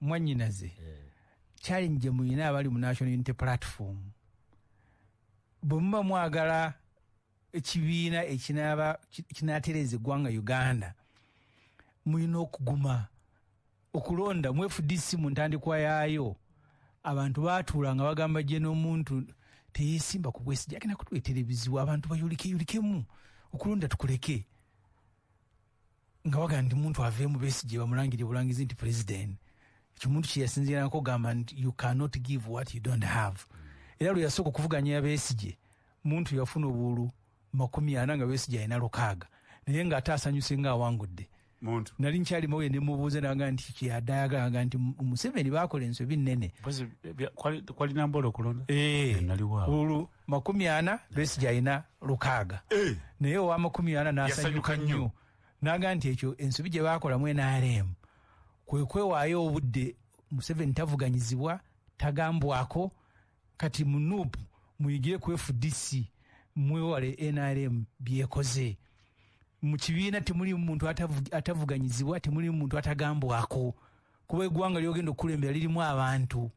mwanyinaze eh. challenge gye mulina abali mu national unity platform bwe muba mwagala ekibiina ekinaaba kinaatereeza eggwanga uganda mulina okuguma okulonda mu fdc mu ntandikwa yaayo abantu baatuula nga bagamba gye n'omuntu teyesimba ku bwesigi agenda kutuleetera ebizibu abantu bayulikeyulikemu okulonda tukuleke nga wagamba nti muntu aveemu besigye bamulangire bulangizi nti president ekyo muntu kyeyasinziranako ogamba nti you cannot give what you don't have era lwe yasooka okuvuganya yabesigye muntu yafuna obulu makumi ana nga besigye alina lukaaga naye nga ate asanyuse nga awangudde nali nkyalimawo ye nemubuuza naga nti kyeyadayagalaga nti museveni bakola ensobi nene eh, eh, makumi ana besigye alina lukaaga eh. naye owa makumi ana nasanyuka nnyo naga nti ekyo ensobi gye baakolamu nrm kwe kwewaayo obudde museveni tavuganyizibwa tagambwako kati munup muyigire ku fdc mwewale nrm byekoze mu kibiina temuli muntu atavuganyizibwa temuli muntu atagambwako kuba eggwanga lyogenda okukulembera lirimu abantu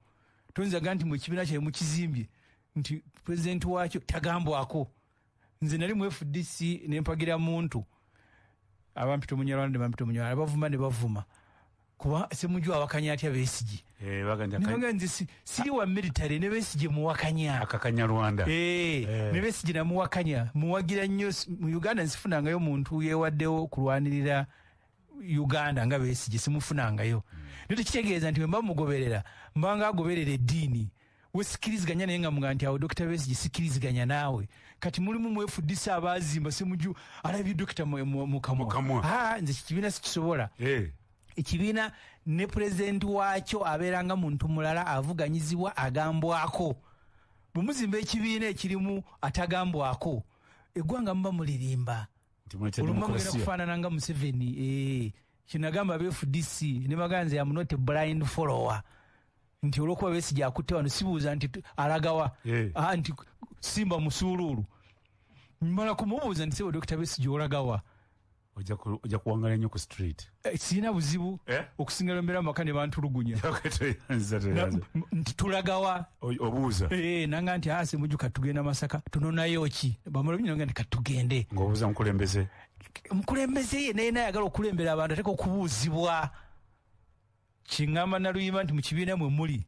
toyinzaga nti mu ekibiina kyae mukizimbye nti pulezidenti waakyo tagambwako nze nali mu fdc nempagira muntu abampita omunyarwanda ne bampita omunyarwanda abavuma ne bavuma kuba semuju awakanya atya besigi eh, naga nze siri wa military ne besigi muwakanya akakanyarwanda eh, eh. ne besigi namuwakanya muwagira nnyo mu uganda nsifunangayo omuntu yewaddewo kulwanirira uganda nga besigi simufunangayo hmm. naye tekitegeeza nti wemba mugoberera mbanga agoberera eddiini we sikiriziganya naye nga muga nti awo dokita besigye sikiriziganya naawe kati mulimu mwefuddisa abaazimba semuju alabye dokita mukamwa ah, nze kikibiina sikisobola eh. ekibiina ne pulezidenti waakyo abeera nga muntu mulala avuganyizibwa agambwako bwe muzimba ekibiina ekirimu atagambwako eggwanga muba mulirimba olumamugenda kufaanana nga museveni eh. kinagamba be fdc ne baganze ya mnote blind follower nti olwokuba besigye akutte wano sibuuza nti alagawa yeah. ah, nti simba musuuluulu mala kumubuuza nti sebo dokita besigye olagawa ojja kuwangala nnyo ku street eh, sirina buzibu eh? okusinga lombeera mumaka ne bantulugunya nti tulagawa obuuza eh, nanga nti ase ah, mujuka tugenda masaka tunonayo ki bamala binyonga nti katugende ngaobuuza mukulembeze omukulembeze ye naye nayagala okulembera abantu ateka okubuuzibwa kingamba naluyimba nti mu kibiina mwe muli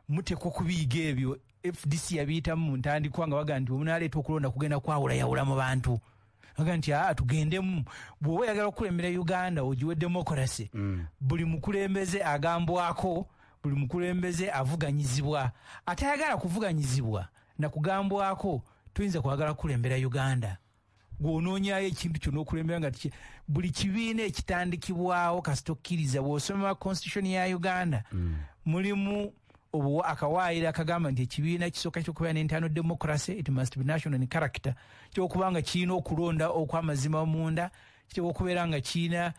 muteeka okubiyiga ebyo fdc yabiyitamu mu ntandikwa nga baga nti omunaleeta okulonda kugenda kwawulayawula mu bantu aga nti aa tugendemu bw'oba oyagala okukulembera uganda ogiwe demokarasi mm. buli mukulembeze agambwako buli mukulembeze avuganyizibwa atayagala kuvuganyizibwa nakugambwako tuyinza kwagala kukulembera uganda gw'onoonyaayo ekintu kyona okulembera nga tiki buli kibiina ekitandikibwawo kasita okkiriza bw'osoma constitution ya uganda mm. mulimu obuwa akawaayiro akagamba nti ekibiina kisooka kyokubeera ne internal democracy it must be national in character kyokuba nga kirina okulonda okw'amazima munda kiteeka okubeera nga kirina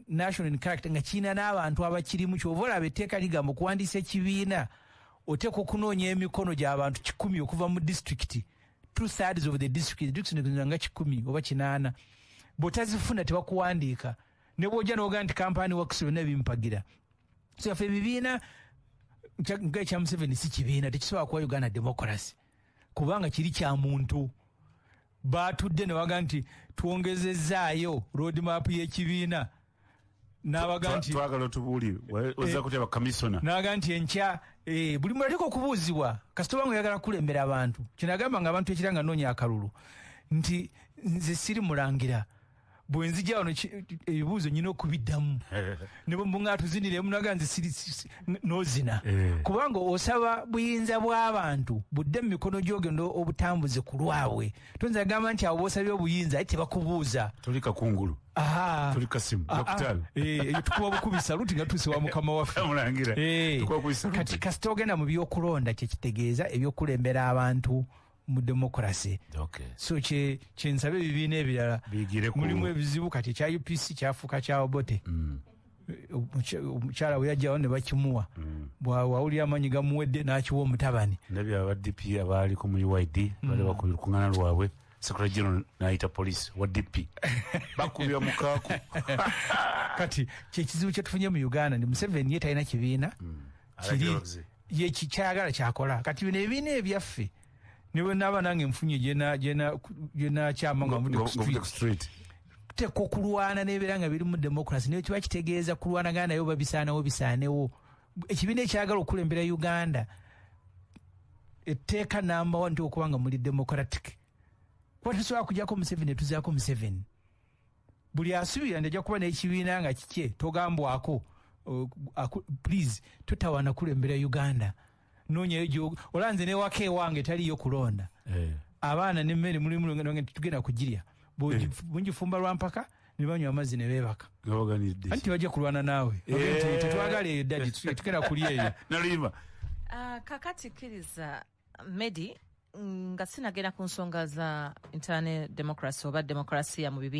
national in character nga kirina n'abantu abakirimu kyova olaba etteeka ligamba okuwandiisa ekibiina oteeka okunoonya emikono gy'abantu kikumi okuva mu disitulikiti two thirds of the district district zino nga kikumi oba kinaana bwotazifuna tebakuwandiika ne bwojja noga nti kampani works byonna bimpagira so yaffe ebibiina nga ekya museveni si kibiina tekisobola kuwa uganda democracy kubanga kiri kya muntu batudde newaga nti twongezezaayo road map y'ekibiina nabaga nti twagala tubuli oza eh, kuteba kamisona naga nti enkya eh, buli mula teko kubuzibwa kasito bangu yagala kulembera abantu kinagamba nga abantu ekiranga nonya akalulu nti nze siri mulangira bwenzi jawo ebibuzo nyina okubidamu nebo mbunga tuzinire munaga nze siri nozina eh. kubanga osaba buyinza bw'abantu budde mu mikono gyogenda obutambuze kulwabwe Tuinza agamba nti abo bosabye obuyinza aye tebakubuuza. Tuli kakungulu. Aha. Tuli kasimu. Ah, ah. Dokitaali. Eh, eyo tukuba bukubi saluti nga tuuse wa mukama waffe. Mulangira. Eh. Tukuba bukubi saluti. Kati kasita ogenda mu byokulonda kye kitegeeza ebyokulembera abantu mu demokrasi okay. so kye kyensabe ebibiina ebirala mulimu ebizibu kati ekya upc kyafuuka kya obote mm. omukyala bwe yajjawo ne bakimuwa mm. bwawulira amaanyi gamuwedde n'akiwa omutabani ndabye aba dp abaali ku mu uid mm. bali bakubira kungana lwabwe sekula general nayita police wa dp bakubira mukaaku kati kyekizibu kyetufunye mu uganda ndi museveni ye talina kibiina mm. kiri ye kikyayagala kyakola kati bino ebibiina ebyaffe ne bwe naaba nange nfunye gye nakyama nga nvudde ku street tuteekwa okulwana n'ebeera nga birimu democracy naye kiba kitegeeza kulwanagana naye oba bisaanawo bisaanewo ekibiina ekyagala okukulembera uganda etteeka namba wa nti okuba nga muli democratic kuba tesobola kujako museveni netuzaako museveni buli asubira nti ajja kuba n'ekibiina nga kikye togambwako uh, please totawana kulembera uganda nonyayo gyogo olaba nze newaka ewange taliyo kulonda eh. abaana nemmere mulimulonge tugenda kugirya eh. bungifumba lwampaka nebanywa amazzi nebebaka anti bajja kulwana naawe eh. tetwagala eyo dadi tugenda kulya eyo ah, kakati kiriza Medi nga sinagenda ku nsonga za internal democracy oba demokrasiya mu bibi